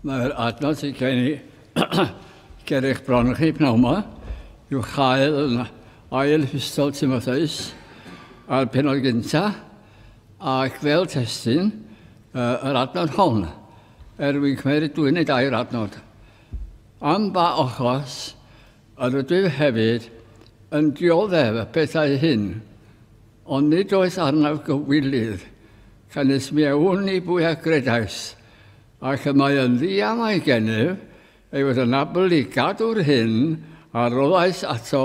Mae'r adnod sy'n gen i ger eich bron chi pnawn yma yw chael yn ail hystol Timotheus a'r penod gynta ac fel testyn uh, yr adnod hon er wy'n cymryd dwi'n ei dair adnod. Am ba ochos yr ydw hefyd yn dioddef y pethau hyn Ond nid oes arnaf gywilydd, canys mi a wn i bwy a gredais, ac y mae yn ddiamau gennyf ei fod yn abl i gadw'r hyn a roddais ato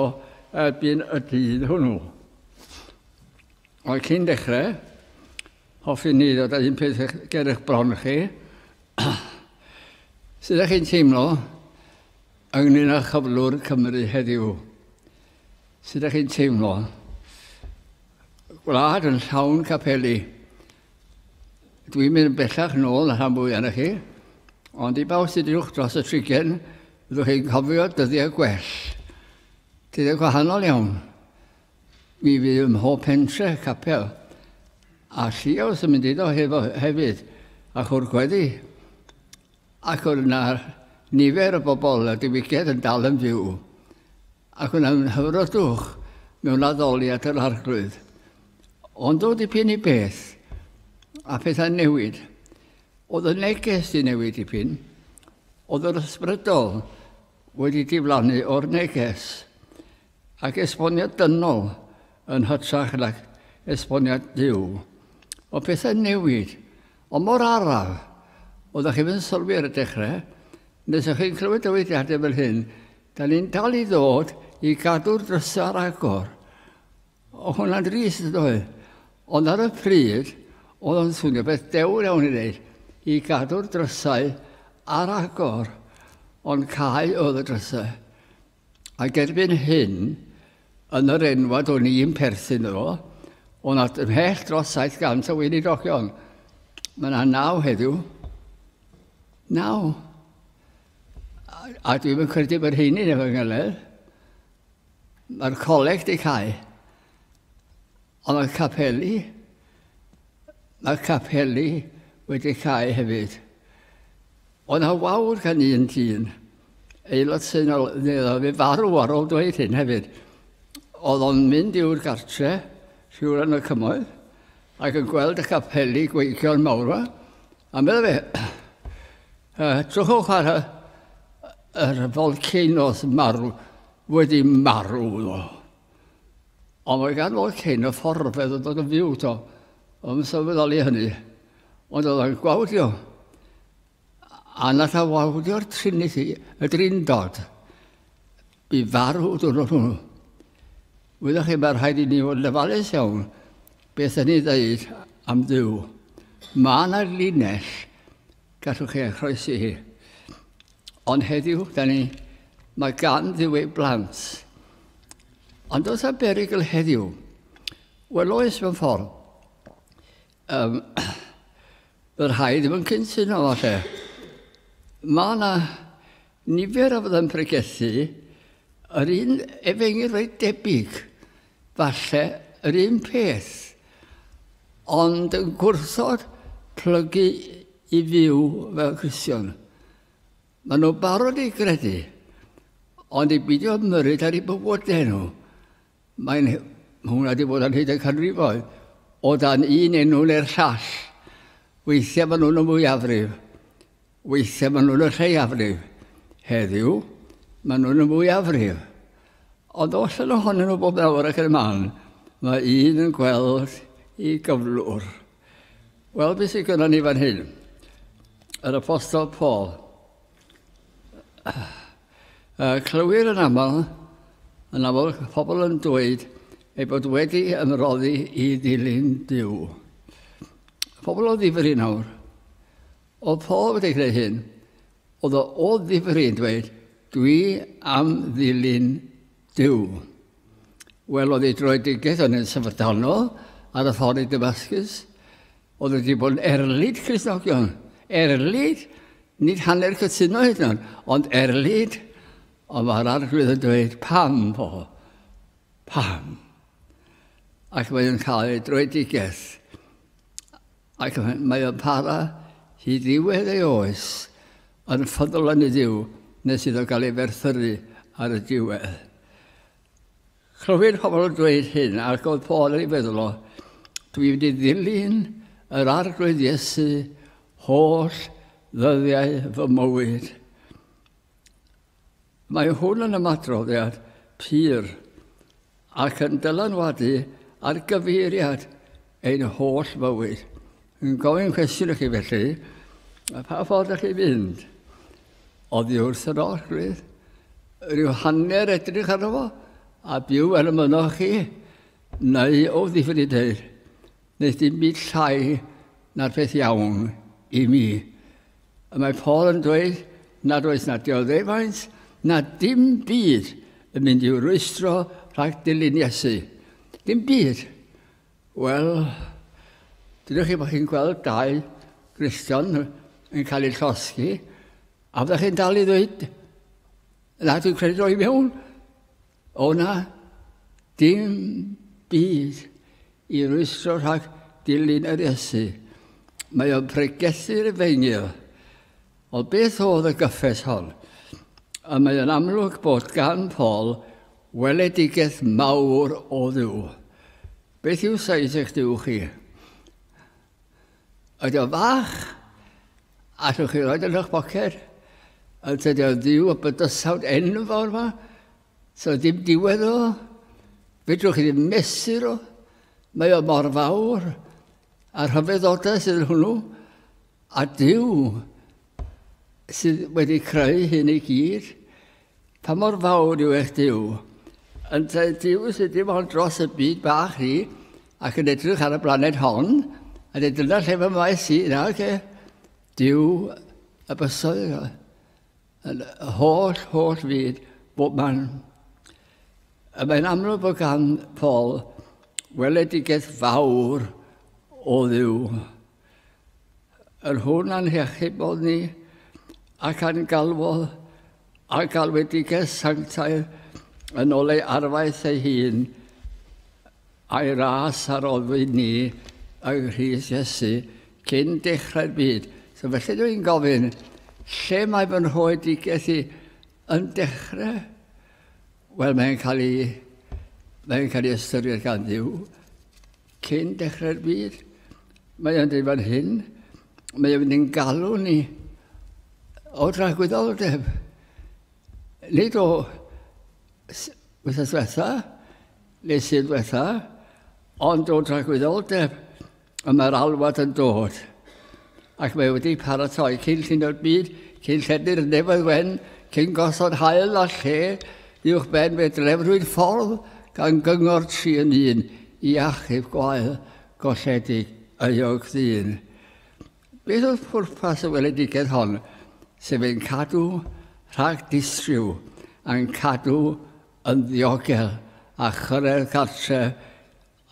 erbyn y dydd hwnnw. Ond cyn dechrau, hoffwn ni ddod â un peth ger eich bron chi, sut ydych chi'n teimlo ynglyn â chyflwr Cymru heddiw? Sut ydych chi'n teimlo? Gwlad yn llawn capeli. Dwi'n mynd yn bellach nôl na rhan fwy arnoch chi, ond i bawb sydd uwch dros y trigen, byddwch chi'n cofio dyddiau gwell. Dyddiau gwahanol iawn. Mi fydd ym mhob pentre capel, a lliaws yn mynd iddo hefo hefyd, a chwr gweddi, ac oedd yna nifer o bobl a diwygiad yn dal yn fyw. ac yn anghydfrydwch mewn addoliad yr Arglwydd. Ond o dipyn i beth, a phethau'n newid. Oedd y neges di newid dipyn, oedd yr ysbrydol wedi diflannu o'r neges, ac esboniad dynol yn hytrach nag esboniad diw. O pethau'n newid, ond mor araf, oeddech chi'n sylwi ar y dechrau, nes ych chi'n clywed dywydiadau fel hyn, Da ni'n dal i ddod i gadw'r drysau ar agor. O hwnna'n drist yn doedd. Ond ar y pryd, oedd o'n swnio beth dewr iawn i wneud, i gadw'r drysau ar agor. Ond cael oedd y drysau. A gerbyn hyn, yn yr enwad o'n i'n perthyn iddo, o nad ymhell dros 700 o weinidogion. Mae yna naw heddiw. Naw. A, a dwi'n yn credu bod hyn yn efo'n ngyledd. Mae'r coleg di cael. Ond mae'r capeli, mae'r capeli wedi cael hefyd. Ond ha wawr gan un dyn, aelod sy'n ol, fi farw ar ôl dweud hyn hefyd, oedd o'n mynd i'r gartre, siwr yn y cymoedd, ac yn gweld y capeli gweithio'n mawr yma, a meddwl fe, Uh, trwchwch ar y, yr volcanoes marw, wedi marw nhw. Ond mae gan volcano fforfedd yn dod yn fyw to. Ond yn sylweddoli hynny. Ond oedd o'n gwawdio. A nad a wawdio'r trinity, y drindod. Bu farw dyn nhw. Wyddoch chi, mae rhaid i ni fod yn ofalus iawn beth yn ei ddeud am ddiw. Mae yna linell Gallwch chi ei chroesi hi. Ond heddiw, da ni, mae gan ddiw ei blant. Ond os a berigl heddiw, wel oes mewn ffordd, um, y rhai ddim yn cyntuno falle. Mae yna nifer o fydda'n pregethu yr un efengyl reit debyg Falle yr un peth, ond yn gwrthod plygu i fyw fel Cristion. Mae nhw'n barod i gredu, ond i beidio ymyrryd ar eu bywydau nhw. Mae'n Mae hwnna wedi bod yn hyd y canrifoedd, o dan un enw neu'r llall. Weithiau maen nhw'n y mwyafrif. Weithiau maen nhw'n y lleiafrif. Heddiw, maen nhw'n y mwyafrif. Ond os yn ohonyn nhw bob nawr ac yn y man, mae un yn gweld i gyflwr. Wel, beth sydd gyda ni fan hyn? Yr apostol Paul. Uh, clywir yn aml, yn aml pobl yn dweud ei bod wedi ymroddi i ddilyn Dyw. Pobl o ddifri nawr, Oedd Paul wedi gwneud hyn? Oedd o o ddifri yn dweud, Dwi am ddilyn Duw? Wel, oedd ei droedigaeth yn un syfrdanol ar y ffordd i Damascus. Oedd wedi bod yn erlid Cristnogion. Erlid, nid hanner cytuno hyd yn ond erlid. Ond mae'r arglwydd yn dweud, pam, Paul? Pam? Ac mae'n cael ei droedigaeth Ac mae o'n para hyd ddiwedd ei oes, yn ffyddlon i Dduw, nes iddo gael ei ferthyru ar y diwedd. Clywir pobl yn dweud hyn, ac oedd Paul yn ei feddwl o, dwi wedi ddilyn yr arglwydd Iesu holl ddyddiau fy mywyd. Mae hwn yn ymadroddiad pur ac yn dylanwadu ar gyfeiriad ein holl fywyd. Yn gofyn cwestiwn i chi felly, a pha ffordd ydych chi'n mynd? Oddi wrth yr orchfydd, rhyw hanner edrych arno fo, a byw fel y mynoch chi, neu o ddifyn i ddeud, nes dim byd llai na'r peth iawn i mi. Y mae Paul yn dweud nad oes na dioddefaint na dim byd yn mynd i'w rwystro rhag dilyn Iesu. Dim byd. Wel, dydych chi bod chi'n gweld dau Gristion yn cael eu llosgi, a fyddech chi'n dal i ddweud, na, dwi'n credu roi mewn, O na, dim byd i rwystro rhag dilyn yr Iesu. Mae o'n pregethu Rufeinig. Ond beth oedd y gyffes hon? A mae o'n amlwg bod gan Paul weledigaeth mawr o Dduw. Beth yw saith eich Duw chi? Ydy o'n fach? Allwch chi roed yn eich boced? Ond ydy o'n ddiw o bydysawd enfawr ma? So dim diwedd o? Fedrwch chi ddim mesur o? Mae o mor fawr. A rhyfeddodau sydd yn hwnnw. A diw sydd wedi creu hyn i gyd. Pa mor fawr yw eich Duw? Yntau Duw sydd dim ond dros y byd bach ni ac yn edrych ar y blaned hon, a dweud dyna lle fy maes i, na, oce. Duw y bysoedd yno, yn y holl, holl fyd, bob man. A mae'n amlwg bod gan Paul weledigaeth fawr o ddiw. Yr hwn a'n hechybod ni, ac a'n galwodd a galwedigaeth sanctaidd yn ôl ei arfaeth ei hun, a'i ras a roddwyd ni yng Nghrist Iesu cyn dechrau'r byd. So felly dwi'n gofyn, lle mae fy nhoedigaeth i yn dechrau? Wel, mae'n cael ei, mae'n cael ei ystyried gan ddiw Cyn dechrau'r byd, mae o'n dweud fan hyn, mae o'n mynd i'n galw ni o dragwyddoldeb. Nid o wythnos diwetha, neu sydd diwetha, ond o dragwyddoldeb, y mae'r alwad yn dod. ac mae wedi paratoi cyn llunio'r byd, cyn llenni'r nefoedd wen, cyn gosod hael a lle uwch ben fe drefrwyd ffordd gan gyngor tri yn un i achub gwael golledig euog ddyn. Beth oedd pwrpas y weledigaeth hon, sef ein cadw rhag distriw, a'n cadw yn ddiogel a chyrraedd cartre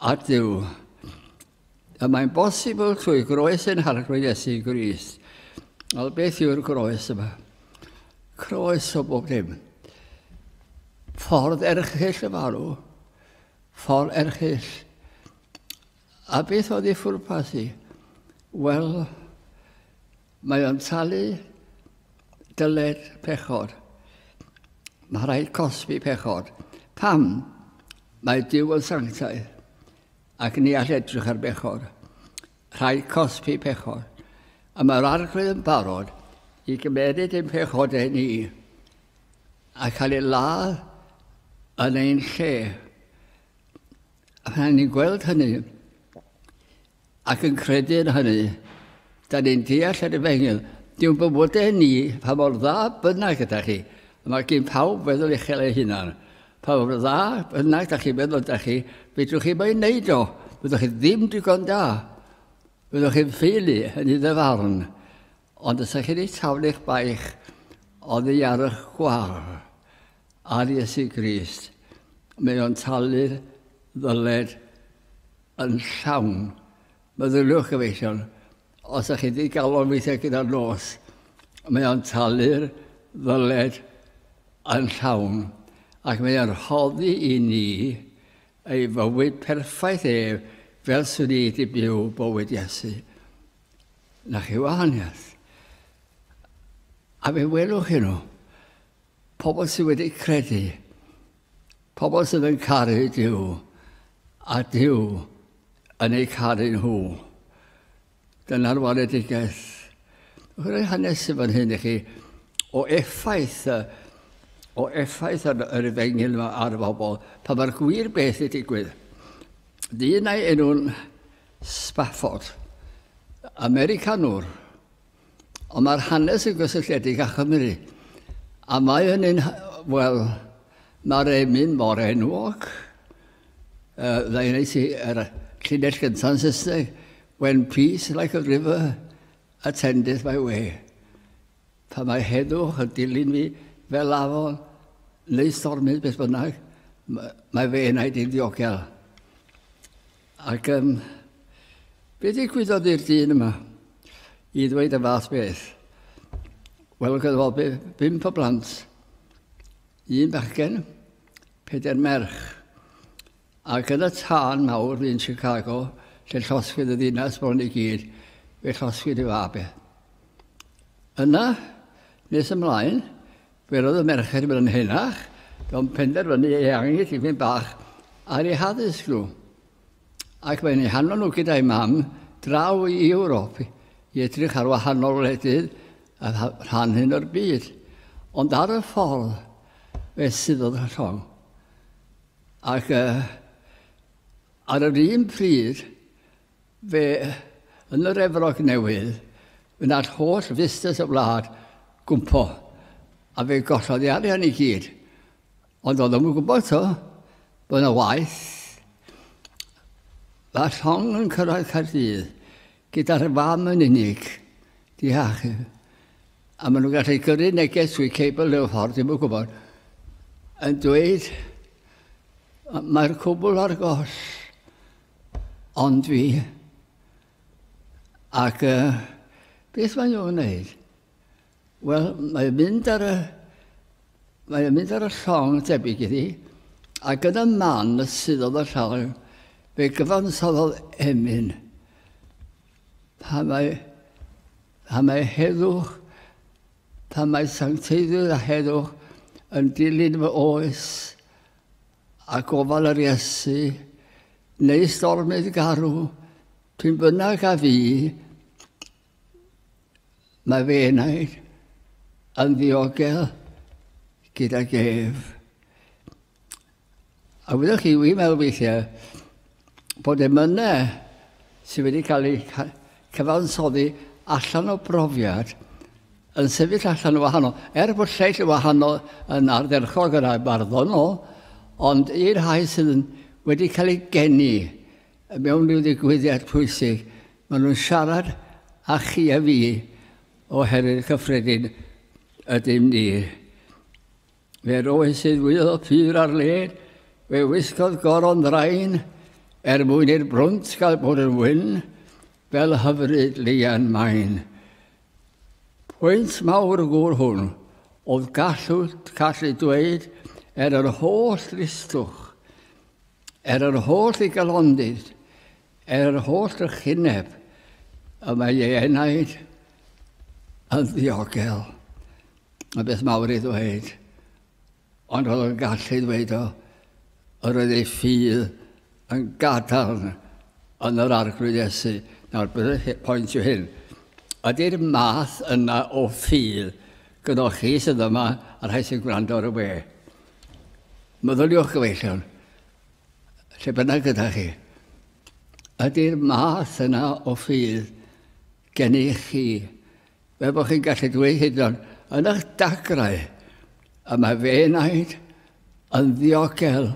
a Dyw. Y mae'n bosibl trwy groes ein harglwydd Iesu Grist. Wel, beth yw'r groes yma? Croes o bob dim. Ffordd erchyll y farw. Ffordd erchyll. A beth oedd ei ffwrpas i? Wel, mae o'n talu dyled pechod. Mae rhaid cosbi pechod. Pam? Mae Dyw yn sanctaidd. Ac ni all edrych ar bechod. Rhaid cosbi pechod. A mae'r arglwydd yn barod i gymeryd ein pechodau ni a cael ei ladd yn ein lle. A pan ni'n gweld hynny ac yn credu yn hynny, da ni'n deall yr efengyl. Dwi'n bywodau ni, pa mor dda bynnag gyda chi, a mae gen pawb feddwl uchel ei hunan. Pa mor dda bynnag da chi'n meddwl da chi, fedrwch chi mo'i wneud o. Byddwch chi ddim digon da. Byddwch chi'n ffeili yn ei ddyfarn. Ond os ydych chi'n ei taflu eich baich oddi ar eich gwar ar Iesu Grist, mae o'n talu'r ddyled yn llawn. Meddyliwch gyfeillion, Os ydych chi wedi galon weithiau gyda'r nos, mae o'n talu'r ddyled yn llawn ac mae o'n rhoddi i ni ei fywyd perffaith ef fel swn i wedi byw bywyd Iesu. Na chi wahaniaeth. A fe welwch chi nhw. Pobl sydd wedi credu, pobl sydd yn caru Dyw, a Dyw yn eu caru nhw. Dyna'r waledigaeth. Rwy'n hanes i fan hyn i chi o effaith o effaith yr, yr efengil yma ar y bobl, pa mae'r gwir beth i digwydd. Dyn ei enw'n Spafford, Americanwr, Ond mae'r hanes yn gysylltiedig â Chymru. A mae hynny'n, wel, mae'r emyn mor enwog. Uh, Dda i wneud yr llinell gyntaf Saesneg, When peace like a river attendeth my way. Pa mae heddwch yn dilyn fi fel afon neu stormydd beth bynnag, mae fe enaid i'n ddiogel. Ac um, be ddigwyddodd i'r dyn yma i ddweud y fath beth? Wel, oedd efo bimp o blant, un bachgen, peder merch. Ac yn y tân mawr yn Chicago, lle llosgwyd y ddinas bron i gyd, fe llosgwyd y fabe. Yna, nes ymlaen, Fe roedd y merched fel yn henach, gan penderfynu ei angen tipyn bach ar ei haddysg nhw, ac mae'n ei hanfon nhw gyda'i mam draw i Ewrop i edrych ar wahanol wledydd a rhan hyn o'r byd. Ond ar y ffordd, fe suddodd y llong. Ac uh, ar yr un pryd, Fe, yn yr Efrog Newydd, wnaeth holl fusnes y wlad gwmpo, a fe gollodd ei arian i gyd. Ond oedd ddim yn gwybod to, bod yna waith. Mae llong yn cyrraedd Caerdydd gyda'r fam yn unig, di achub. A maen nhw'n gallu gyrru neges trwy cable y ffordd, ddim yn gwybod, yn dweud mae'r cwbl ar goll. Ond fi. Ac uh, beth mae'n nhw'n gwneud? Wel, mae'n mynd ar y... Mae'n mynd ar y llong debyg iddi, a gyda man sydd oedd y llong, fe gyfansoddodd emyn. Pa mae, pa mae heddwch, pa mae sancteiddwyr a heddwch yn dilyn fy oes, a gofal yr Iesu, neu stormydd garw, pyn bynnag a fi, mae fe enaid yn ddiogel gyda gef. A wyddoch chi, wi'n meddwl weithiau, bod emynau sydd wedi cael eu cyfansoddi allan o brofiad yn sefyll allan o wahanol, er bod lleill o wahanol yn ardderchog yn barddonol, ond i'r rhai sydd yn wedi cael eu geni mewn rhyw ddigwyddiad pwysig, maen nhw'n siarad â chi a fi oherwydd cyffredin ydym ni. Fe'r oes sydd wylio pur ar led, fe wisgodd goron ddrain, er mwyn i'r brwnt gael bod yn wyn, fel hyfryd leian main. Pwynt mawr gŵr hwn, oedd gallu, gallu dweud, er yr holl listwch, er yr holl i galondid, Er holl drychineb y mae ei enaid yn ddiogel, y beth mawr ei ddweud, ond roedd o'n gallu ei ddweud o, yr oedd ei ffydd yn gadarn yn yr Arglwydd Iesu. Nawr, bydd y pwynt yw hyn. Ydy'r math yna o ffydd gyda chi sydd yma, a rhai sy'n gwrando ar y we? Meddyliwch gyfeillion. Lle bynnag gyda chi, ydy'r math yna o ffydd gennych chi, fe bod chi'n gallu dweud hyd yn yn eich dagrau, y mae fe naid yn ddiogel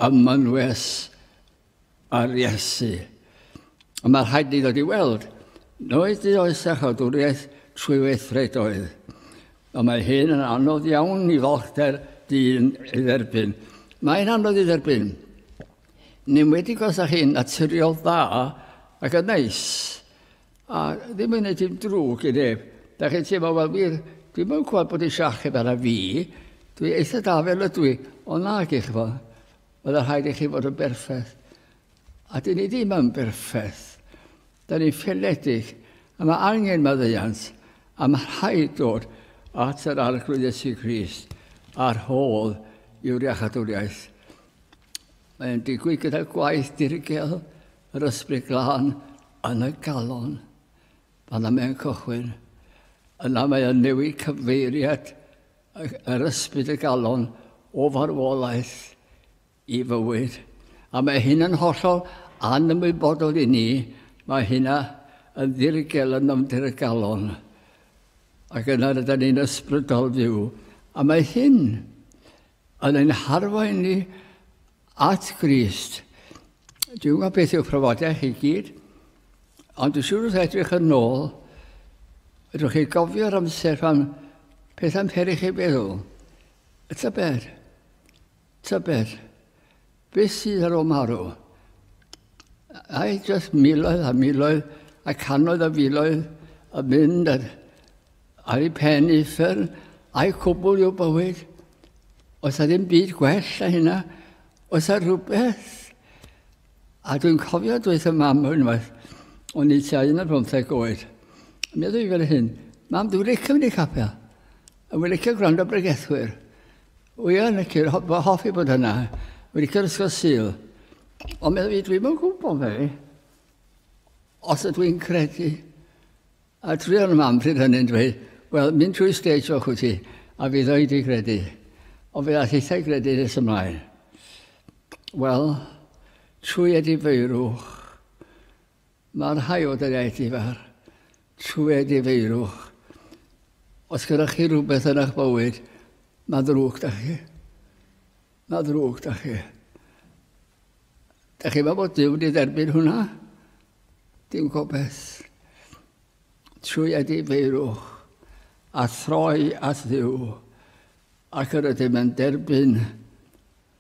ym mynwes ar Iesu. A mae rhaid ni ddod i weld, noes di oes a chodwriaeth trwy weithredoedd. A mae hyn yn anodd iawn i falchder dyn ei dderbyn. Mae'n anodd i dderbyn. Yn enwedig os ydych chi'n naturiol dda ac yn neis. A ddim yn gwneud dim drwg i neb. Da chi'n teimlo, wel wir, dwi'm yn gwybod bod eisiau achub arna fi. Dwi eitha da fel ydw i. Ond nag i chi fod. Oedd rhaid i chi fod yn berffaith. A dyn ni ddim yn berffaith. Da ni'n ffinnedig y mae angen maddeuant a mae rhaid dod at yr Arglwydd Iesu Grist a'r hol yw'r iachadwriaeth. Mae'n digwydd gyda gwaith dirgel yr ysbryd glân yn y galon. Fanna mae'n cychwyn. Yna mae yn newid cyfeiriad yr ysbryd y galon o farwolaeth i fywyd, a mae hyn yn hollol anymwybodol i ni, mae hynna yn ddirgel yn nofnder y galon, ac yna rydyn ni'n ysbrydol fyw, a mae hyn yn ein harwain ni at Grist. Dwi'n gwybod beth yw'ch profiadau chi gyd, ond dwi'n siŵr wrth edrych yn ôl, ydwch chi gofio'r amser pan pethau'n peri chi feddwl, y tybed, Tybed beth sydd ar ôl marw? Ai jyst miloedd a miloedd a cannoedd o filoedd yn mynd ar, ar ei pen i uffern, ai cwbl yw bywyd? Oes a ddim byd gwell na hynna? Oes a rhywbeth? A dwi'n cofio dweud y mam unwaith, o'n i tua un ar bymtheg oed, meddwl i fel hyn, mam, dwi'n licio mynd i capel, a dwi'n licio gwrando bregethwyr. Wi yn licio, ho- fy hoffi bod yna. Wi licio'r ysgol Sul. Ond meddwl fi, dwi'n yn gwybod fe. Os ydw i'n credu. A dwi yn y mam pryd hynny'n dweud, wel, mynd trwy stage o'ch wyt ti, a fydd o'i di credu. Ond fe all eithau credu nes ymlaen. Wel, trwy edifeirwch, Mae rhai o daliaethau fach trwy wneud i feirwch. Os gyda chi rhywbeth yn eich bywyd, mae ddrwg da chi. Mae ddrwg da chi. Da chi mae bod Dyw wedi dderbyn hwnna? Dim gobeith. Trwy ydy feirwch a throi at ddiw ac yr ydym yn derbyn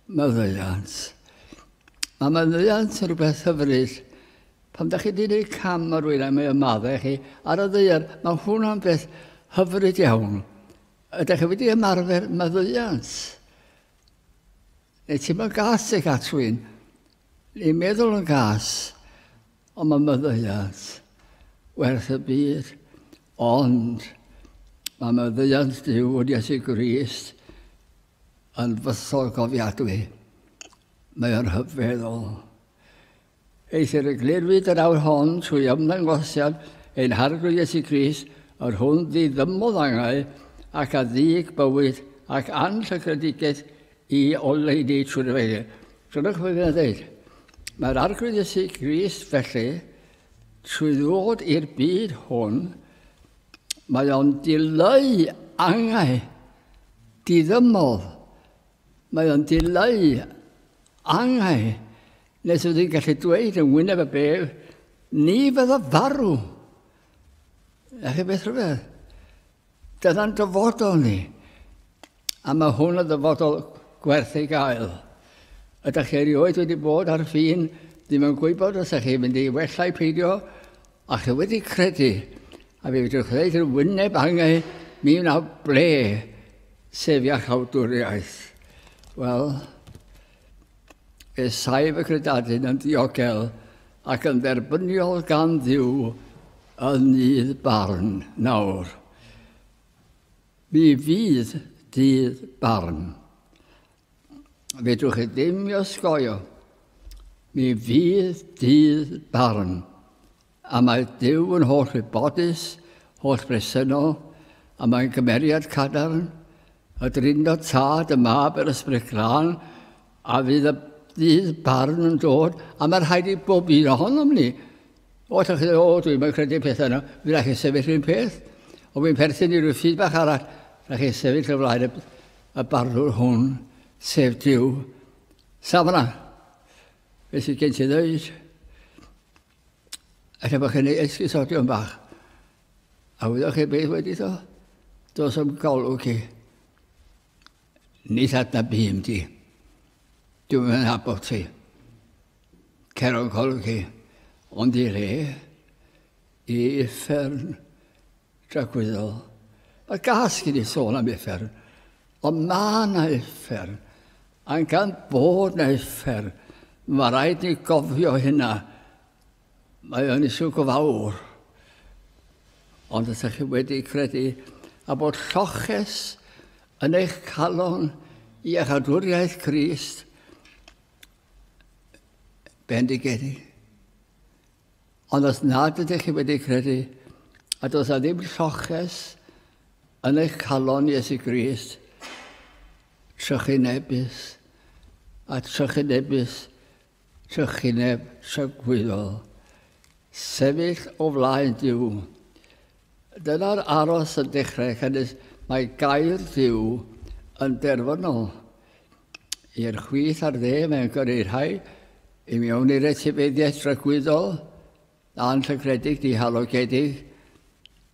Maddeuant. Mae maddeuant yn rhywbeth hyfryd. Pan da chi wedi gwneud cam ar rwy'n a mae ymadde chi ar y ddeiar, mae hwnna'n beth hyfryd iawn. Ydych chi wedi ymarfer maddeuant? Neu ti'n mynd gas eich at rwy'n? Ni'n meddwl yn gas, ond mae maddeuant werth y byd. Ond mae maddeuant Dyw yn Iesu Grist Yn fusol cofiadwy. Mae o'n rhyfeddol. Eithr y glirwyd yr awr hon trwy ymddangosiad ein Harglwydd Iesu Grist, yr hwn ddiddymodd angau ac a ddig bywyd ac anllygredigaeth i oleuni trwy'r efengyl. Dyna beth mae'n dweud. Mae'r Arglwydd Iesu Grist felly, trwy ddod i'r byd hwn, Mae o'n dileu angau diddymol. Mae o'n dileu angau nes oedd hi'n gallu dweud yn wyneb y bef, ni fydda farw. A chi beth rhywbeth? Dyna'n dyfodol ni. A mae hwn yn ddyfodol gwerth ei gael. Ydych chi erioed wedi bod ar fin ddim yn gwybod os ydych chi'n mynd i wella i peidio, a chi wedi credu, a fe fedrwch ddweud yn wyneb angau, mi wnaw ble, sef iachawdwriaeth. Wel, fe saif y credadun yn diogel ac yn dderbyniol gan ddiw yn nydd barn nawr. Mi fydd dydd barn. Fedrwch chi ddim i osgoio. Mi fydd dydd barn. A mae Dyw yn holl wybodus, holl bresennol, a mae'n cymeriad cadarn, y Drindod Tad, y Mab, yr Ysbryd Glân, A fydd y fydd barn yn dod, a mae rhaid i bob un ohonom ni. O, ti'n credu, o, dwi'n mynd credu pethau yna, fi rhaid chi sefyll un peth. O, fi'n perthyn i rhyw ffyd bach arall, rhaid chi sefyll y flaen y, y barnwr hwn, sef Dyw. Safna, fe sydd gen ti ddeud, efallai bod chi'n ei esgusodion bach. A wyddoch chi beth wedi ddo? Dos am golwg chi. Ni ddadna bum di. Dwi'n yn abod ti. Cer o'n golwg i. Ond i re, i uffern dragwyddol. Mae gas gen i sôn am uffern. Ond mae na uffern. A'n gan bod na uffern. Mae rhaid ni gofio hynna. Mae o'n isw go fawr. Ond os ydych chi wedi credu a bod lloches yn eich calon i eich adwriaeth Crist, bendigedig. Ond os nad ydych chi wedi credu a does a ddim lloches yn eich calon Iesu Grist, trychinebus a trychinebus Trychineb tragwyddol. Sefyll o flaen Duw. Dyna'r aros yn dechrau cynnus. Mae gair Duw yn derfynol. I'r chwith a'r dde mae'n gyrru rhai i mewn i'r etifeddiaeth dragwyddol, Anrhegredig, dihalogedig,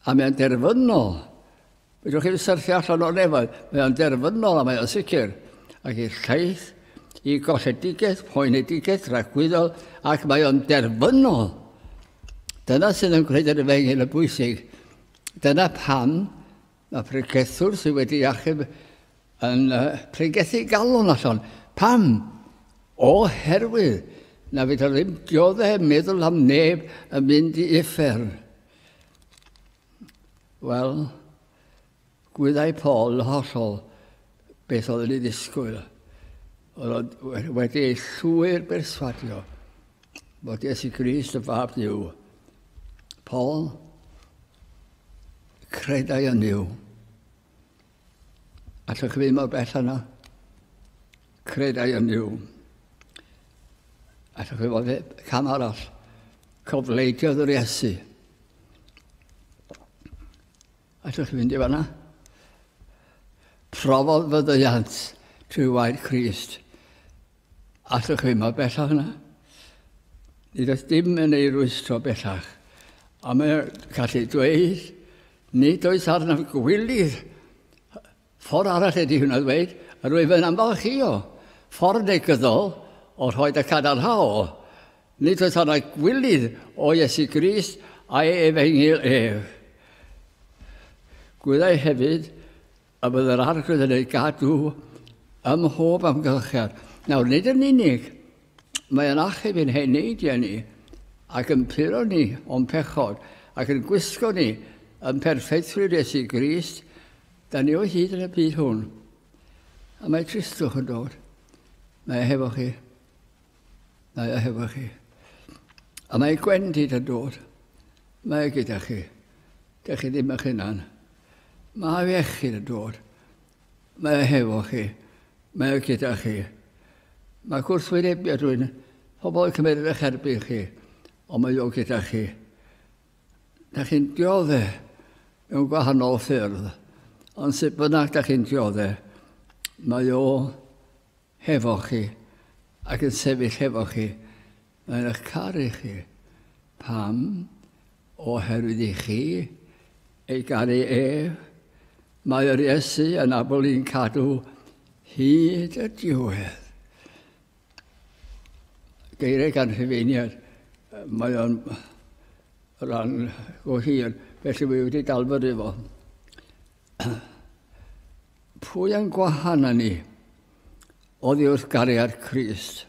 a mae'n derfynol. Fedrwch chi'n syrthio allan o'r nefoedd. Mae o'n derfynol a mae o'n sicr. Ac i'r llaeth, i golledigaeth, poenedigaeth, rhagwyddol, ac mae o'n derfynol. Dyna sydd yn gwneud yr efengyl y bwysig. Dyna pam Mae pregethwr sydd wedi achub yn pregethu galon allan. Pam? Oherwydd na fydd o ddim diodde meddwl am neb yn mynd i uffern. Wel, gwyddau Paul hollol beth oedd yn ei ddisgwyl. Roedd wedi ei llwyr berswadio bod Iesu Grist y Fab Dyw. Paul credai yn Dyw. Ac y cyfyd mor bell yna, credau yn Dyw. Ac y cyfyd e, cam arall, cofleidiodd yr Iesu. Allwch chi fynd i fanna? Profodd fyddeiant trwy wair Christ. Allwch chi mor bellach yna? Nid oes dim yn ei rwystro bellach. A mae'n gallu dweud, nid oes arnaf gwylir Ffordd arall ydy hwnna ddweud, rwyf yn ymfalchïo ffordd negyddol o rhoid y cadarnhaol, nid oes arnau gwilydd o Iesu Grist a'i efengyl ef. Gwyddai hefyd y bydd yr Arglwydd yn ei gadw ym mhob amgylchedd. Nawr, nid yn unig mae yn achub yn hen neidiau ni ac yn puro ni o'n pechod ac yn gwisgo ni yn perffeithrwydd Iesu Grist, Da ni o hyd yn y byd hwn. A mae Cristwch yn dod. Mae e hefo chi. Mae e hefo chi. A mae gwendid yn dod. Mae e gyda chi. Dych chi ddim eich hunan. Mae iechyd yn dod. Mae e hefo chi. Mae e gyda chi. Mae gwrthwynebiad rwy'n pobl yn cymryd eich erbyn chi, ond mae o gyda chi. Da chi'n diodde mewn gwahanol ffyrdd, ond sut bynnag da chi'n diodde, mae o hefo chi ac yn sefyll hefo chi. Mae'n eich caru chi. Pam? Oherwydd i chi ei garu e. Mae yr Iesu yn abl i'n cadw hyd y diwedd. geiriau gan Rhufeiniaid. Mae o'n rhan go hir, felly fi wedi dalfod efo. Pwy yn gwahana ni oddi wrth gariad Christ?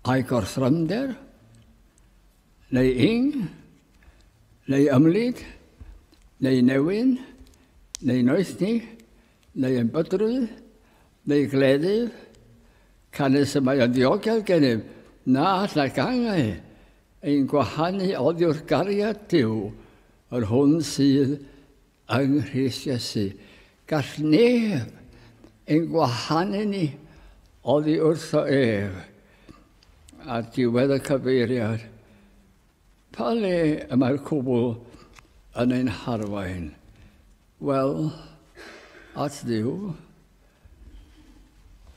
Ai gorthrymder? Neu ing? Neu ymlid? Neu newyn? Neu noethni? neu yn bydru, neu gleddyf, canys y mae yn ddiogel gennym na all nac angau ein gwahanu oddiwrth gariad Duw, yr hwn sydd yng Nghrist Iesu. Gall neb ein gwahanu ni oddi wrtho ef. Ar diwedd y cyfeiriad, Pa le y mae'r cwbl yn ein harwain? Wel, at Dduw.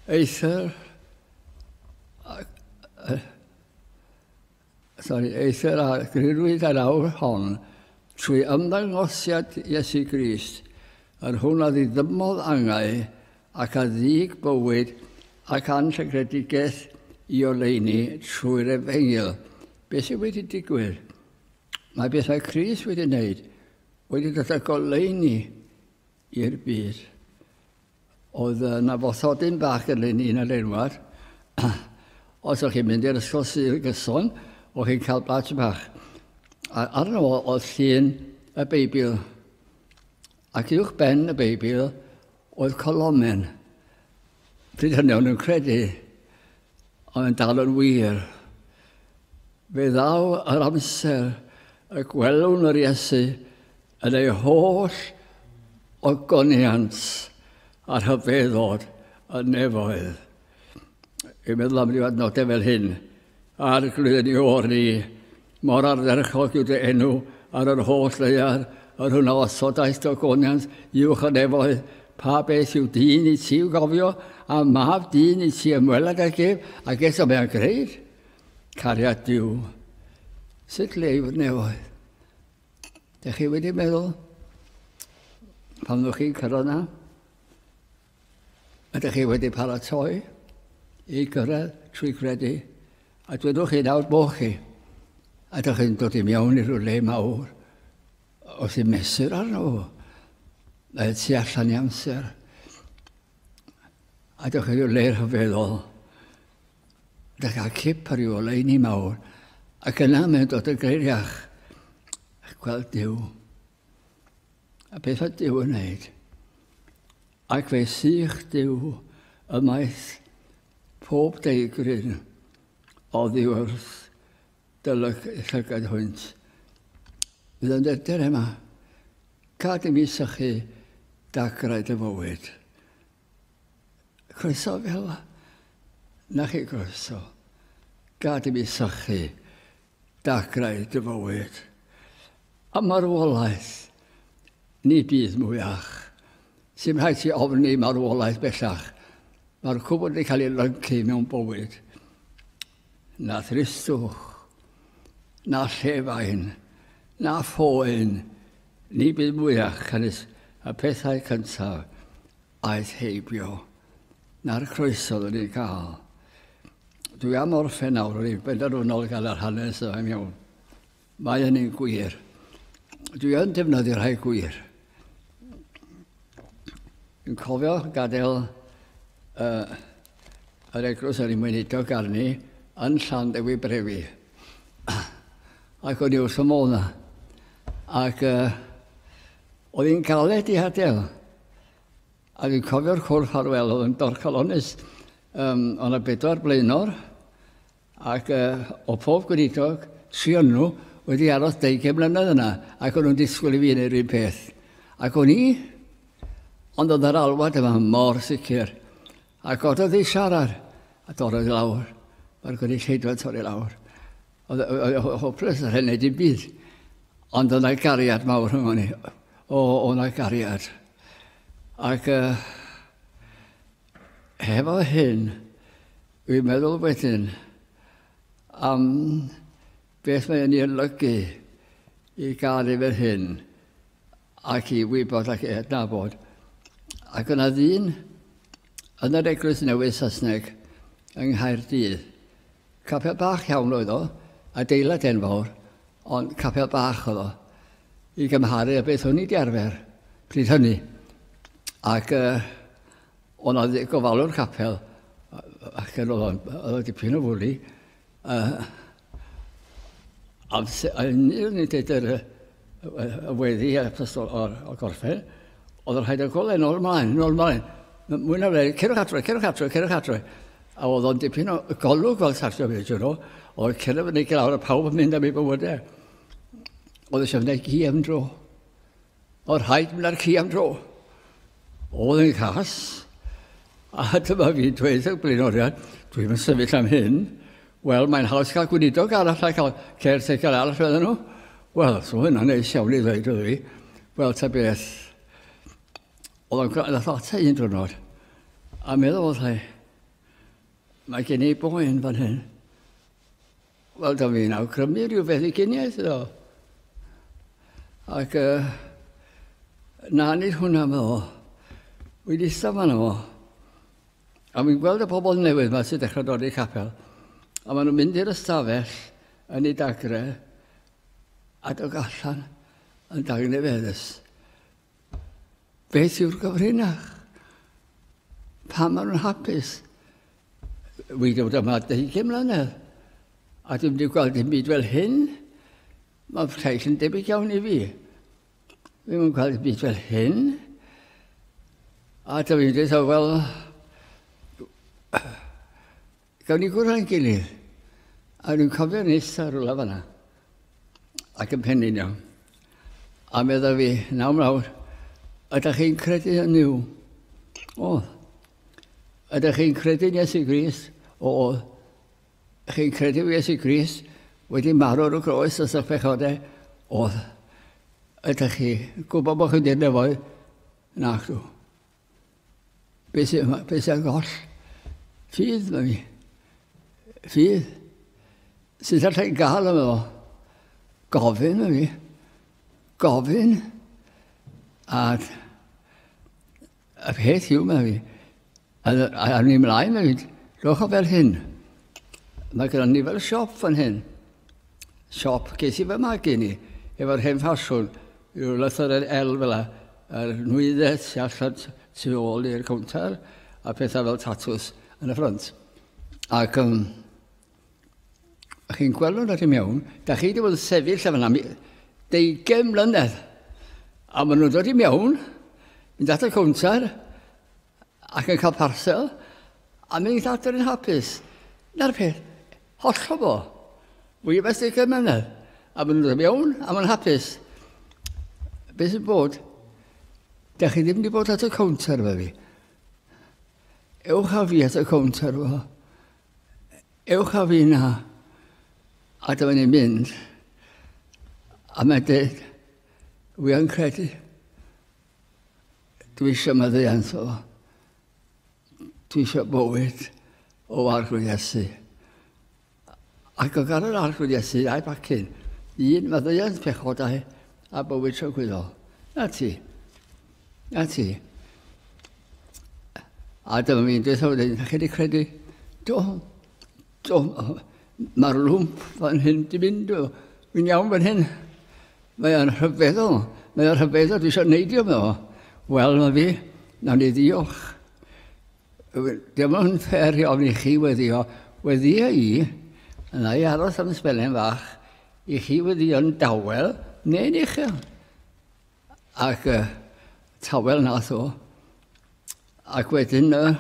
Eithr... Sorry, eithr a grirwyd yr awr hon trwy ymddangosiad Iesu Grist, yr hwn a ddiddymodd angau ac a ddig bywyd ac anrhygredigaeth i oleuni trwy'r efengyl, Beth sydd wedi digwydd? Mae bethau Chris wedi wneud wedi dod â goleuni i'r byd. Oedd yna fothodyn bach yn ni yn y leirwad. Os o'ch chi'n mynd i'r ysgol sydd y gyson, o'ch chi'n cael badge bach. A arno fo oedd llun y Beibl. Ac uwch ben y Beibl oedd colomen. Pryd hynny o'n nhw'n credu Ond yn dal yn wir, fe ddaw yr amser y gwelwn yr Iesu yn ei holl ogoniant a rhyfeddod y nefoedd. Yn meddwl am ryw adnodau fel hyn, ar glwyddyn i o'r ni, Mor ardderchog yw dy enw ar yr holl ddaear, yr hwn a osodaeth dy ogoniant uwch y nefoedd. Pa beth yw dyn i ti i'w gofio, a mab dyn i ti ymweled ag ef, ac eto mae o'n greid cariad Duw. Sut le yw'r nefoedd? Dych chi wedi meddwl, pan ddwch chi'n cyrraedd na, Ydych chi wedi paratoi i gyrraedd trwy gredu? A dwedwch chi nawr bod chi? Ydych chi'n dod i mewn i rhyw le mawr? Os i'n mesur arno fo, mae tu allan i amser. Ydych chi rhyw le rhyfeddol? Ydych cael cip ar ryw oleini mawr? Ac yna mae'n dod yn greiriach. Gweld Dyw. A beth oedd Dyw yn wneud? Ac fe sych Dyw ymaith pob deigryn oddi wrth dylyg llygad hwynt. Bydd yn dydr yma. Cad i mi sychu dagrau dy fywyd. Croeso fel na chi croeso. Gad i mi sychu dagrau dy fywyd. A marwolaeth, ni byd mwyach. Sy'n rhaid ti ofni marwolaeth bellach. Mae'r cwbl wedi cael ei lyncu mewn bywyd. Na thristwch, na llefain, na phoen, ni byd mwyach canys y pethau cyntaf aeth heibio, na'r croeso oedd yn ei gael. Dwi am orffen nawr, rwy'n benderfynol gan yr hanes yma'n iawn. Mae hynny'n gwir. Dwi yn defnyddio rhai gwir. Dwi'n cofio gadael uh, yr eglwys ar ei mwynidog arni yn llan dewi brefi. Ac o'n i wrth y modd na. Ac uh, oedd hi'n galed i hadael. A dwi'n cofio'r cwrdd ffarwel oedd yn dorcalonus. Um, o'n y bedwar blaenor ac o pob gweinidog sy yn nhw wedi aros deugain mlynedd yna, ac o'n nhw'n disgwyl i fi wneud yr un peth. Ac o'n i, ond oedd yr alwad yma mor sicr. A gododd ei siarad, a dorrodd i lawr. Mae'r gynulleidfa torri lawr. Oedd o hoples yr hyn dim byd. Ond oedd yna gariad mawr rhwng ni. O, oedd yna gariad. Ac uh, Hefo hyn, dwi'n meddwl wedyn am beth mae'n ei olygu i gael ei fel hyn ac i wybod ac i adnabod. Ac yna ddyn yn yr Eglwys Newydd Saesneg yng Nghaerdydd Capel bach iawn oedd o, adeilad enfawr, ond capel bach oedd o, i gymharu â beth o'n i 'di arfer pryd hynny. Ac yy, o' 'na ddi- gofalwr capel, ac yn oedd o'n oedd o dipyn o fwli, yy amser- yn yn yn deud yr yy Wedi y pistol o'r, o'r gorffau, oedd yn rhaid y golau nôl ymlaen, nôl ymlaen. Mwy na fe, cerwch adre, cerwch adre, cerwch adre. A oedd o'n dipyn o golwg fel Sarsio Fyd, you know, oedd cerwch fyny glawr a pawb yn mynd am ei bywydau. Oedd eisiau fynd ci am dro. Oedd rhaid mynd ar ci am dro. Oedd yn cas. A dyma fi dweud y blaenoriad, dwi'n mynd sefyll am hyn, Wel, mae'n haws cael gweinidog arall a cael caretaker arall, fydden nhw. Wel, so hynna'n neis iawn i ddweud oedd fi. Wel, ta beth. Oedd o'n gwrando nath ata un drwnod. A meddwl oedd hai, mae gen i boen fan hyn. Wel, da fi'n awgrymu rhyw beth i gyniaeth iddo. Ac uh, na nid hwnna meddwl. Wedi stafan efo. A fi'n gweld y pobl newydd yma sy'n dechrau dod i'r capel, a maen nhw'n mynd i'r ystafell yn ei dagre, a dod allan yn dagnefeddus. Beth yw'r gyfrinach? Pam maen nhw'n hapus? Wy dod yma 20 mlynedd, a dwi'n wedi gweld dim byd fel hyn. Mae'r lleill yn debyg iawn i fi. Ddim yn cael byd fel hyn. A ta fi'n dweud, wel, gawn ni gwrdd â'n gilydd. A rwy'n cofio nes ar rwla fanna, ac yn pennin iawn. A meddwl fi, nawr mlawr, ydych chi'n credu yn yw? O, ydych chi'n credu nes i Gris? O, Chi'n credu Iesu Grist wedi marw ar y groes os ych pechodau? Oedd. Ydych chi gwybod bod chi wedi nefoedd? Nacdw. Be sy'n yma? Be sy'n goll? Ffydd, mae mi. Ffydd. Sut allai gael yma fo? Gofyn, mae mi. Gofyn. Ac Y peth yw, mae fi, a awn ni ymlaen, mae fi, rhowch o fel hyn. Mae gyda ni fel siop fan hyn. Siop, ges i fy magu ni, efo'r hen ffasiwn, rhyw lythyren el fel la, a'r nwyddau tu allan tu ôl i'r cownter, a pethau fel tatws yn y ffrant. Ac um, A chi'n gweld nhw'n rhaid mewn, da chi wedi bod yn sefyll lle fyna deugen mlynedd. A maen nhw'n dod i mewn, mynd at y cwnter, ac yn cael parsel, a mynd i'n adr yn hapus. Na'r peth, hollol fo. Fwy o beth deugen mlynedd. A maen nhw'n dod i mewn, a maen hapus. Be sy'n bod? Da chi ddim wedi bod at y cwnter fe fi. Ewch â fi at y cwnter fo. Ewch a fi na. A dyma ni'n mynd. A mae'n dweud, wi yn credu. Dwi eisiau maddeuant o. Dwi eisiau bywyd o arglwydd Iesu. Ac o gael yr arglwydd Iesu a'i bacyn, un maddeuant pechodau a bywyd tragwyddol. Na ti. A ti? A dyma fi'n dweud wedyn, na chi wedi credu, do, do, mae'r lwmp fan hyn di mynd, fi'n iawn fan hyn. Mae o'n rhyfeddol, mae o'n rhyfeddol, dwi eisiau neidio me o. Wel, mae fi, na ni ddiolch. Dim ond ffer i ofni chi weddio, weddio i, yna i aros am ysbelen fach, i chi weddio yn dawel, neu'n uchel. Ac uh, tawel nath o. Ac wedyn uh,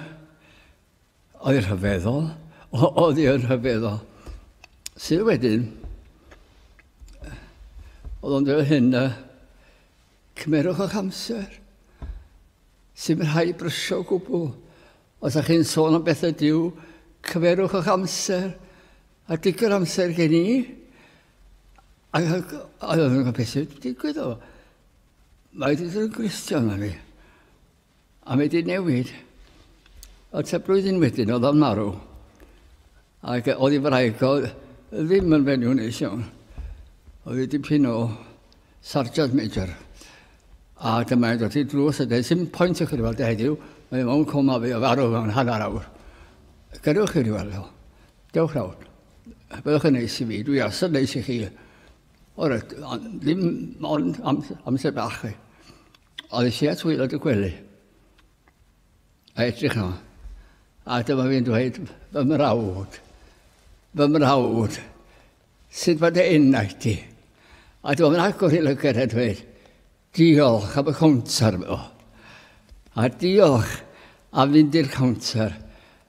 oedd rhyfeddol, oedd i'n rhyfeddol. Sydd wedyn, oedd o'n dweud hyn, uh, cymerwch o'ch amser. Sy'n rhai brysio gwbl. Os ydych chi'n sôn am bethau diw, cymerwch o'ch amser. A digon amser gen i, Ac oedd yn gwybod beth sy'n digwydd o. Mae wedi dod yn gristion na fi. A mae wedi newid. A ta blwyddyn wedyn oedd o'n marw. Ac oedd ei wraig o ddim yn fenyw neis iawn. Oedd ei dipyn o sarjant major. A dyma ei dod i drws a dweud, sy'n pwynt i chi weld heddiw, mae o'n coma fi o farw mewn hanner awr. Gadewch chi wedi weld o. Dewch nawr. Byddwch yn neis i fi, dwi as yn neis i chi. O'r ddim ond am, amser bach chi. Oedd eisiau at wylod y gwely. A edrych yma. A dyma fi'n dweud, fy mrawd, fy mrawd, sut mae dy enau ti? A dyma fi'n agor i lygaid a dweud, Diolch am y cownter, medda. A diolch am fynd i'r cownter,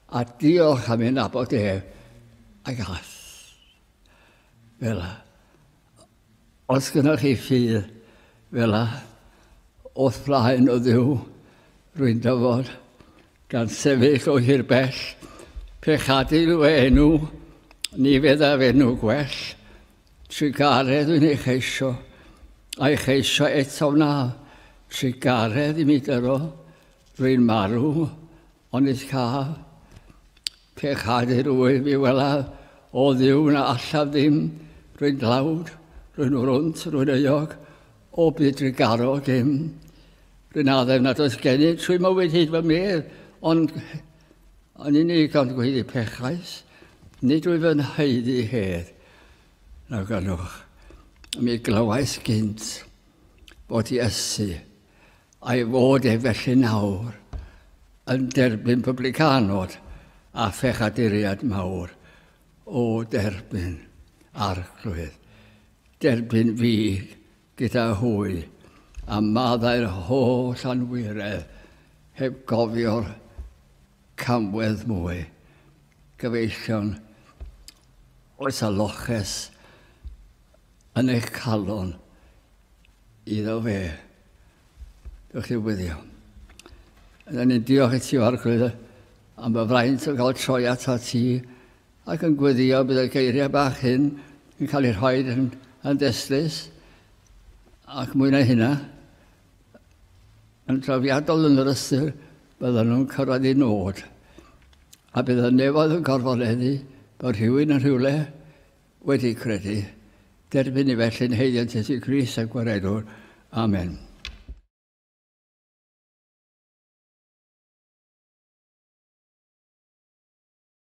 a diolch am ei nabod ef, ac all. Fela. Os gynnwch chi ffydd, fela, o'th flaen o ddiw, rwy'n dyfod, gan sefyll o hir bell, pe chadil fy enw, ni feddaf enw gwell, Trugaredd dwi'n ei cheisio, a'i cheisio eto wna. Trugaredd i mi dyro, dwi'n marw, ond is ca. Pe chad i'r wyf i wela, o dduw na allaf ddim, rwy'n dlawd, rwy'n wrwnt, rwy'n euog, o byd drigaro dim. Rwy'n addef nad oes gennyf trwy mywyd hyd fy medd, ond yn unig ond gweiddi pechais, nid wyf yn haeddu hedd. Nag anwch, mi glywais gynt bod Iesu, a'i fod e felly nawr, yn derbyn publicanod a phechaduriaid mawr o derbyn arglwydd, derbyn fi gyda hwy, a maddau'r holl anwiredd heb gofio'r camwedd mwy, gyfeillion, oes a loches yn eich calon iddo fe. Dewch chi wyddio. Yna ni'n diolch i ti, Arglwydd, am y fraint o gael troi ato ti Ac yn gweddïo bydd y geiriau bach hyn yn cael eu rhoi yn, yn destlus ac mwy na hynna, yn drawiadol yn yr ystyr byddan nhw'n cyrraedd i nod. A bydd y nefoedd yn gorfoleddu bod rhywun yn rhywle wedi credu. Derbyn ni felly'n heiddiant Iesu Grist a Gwaredwr. Amen.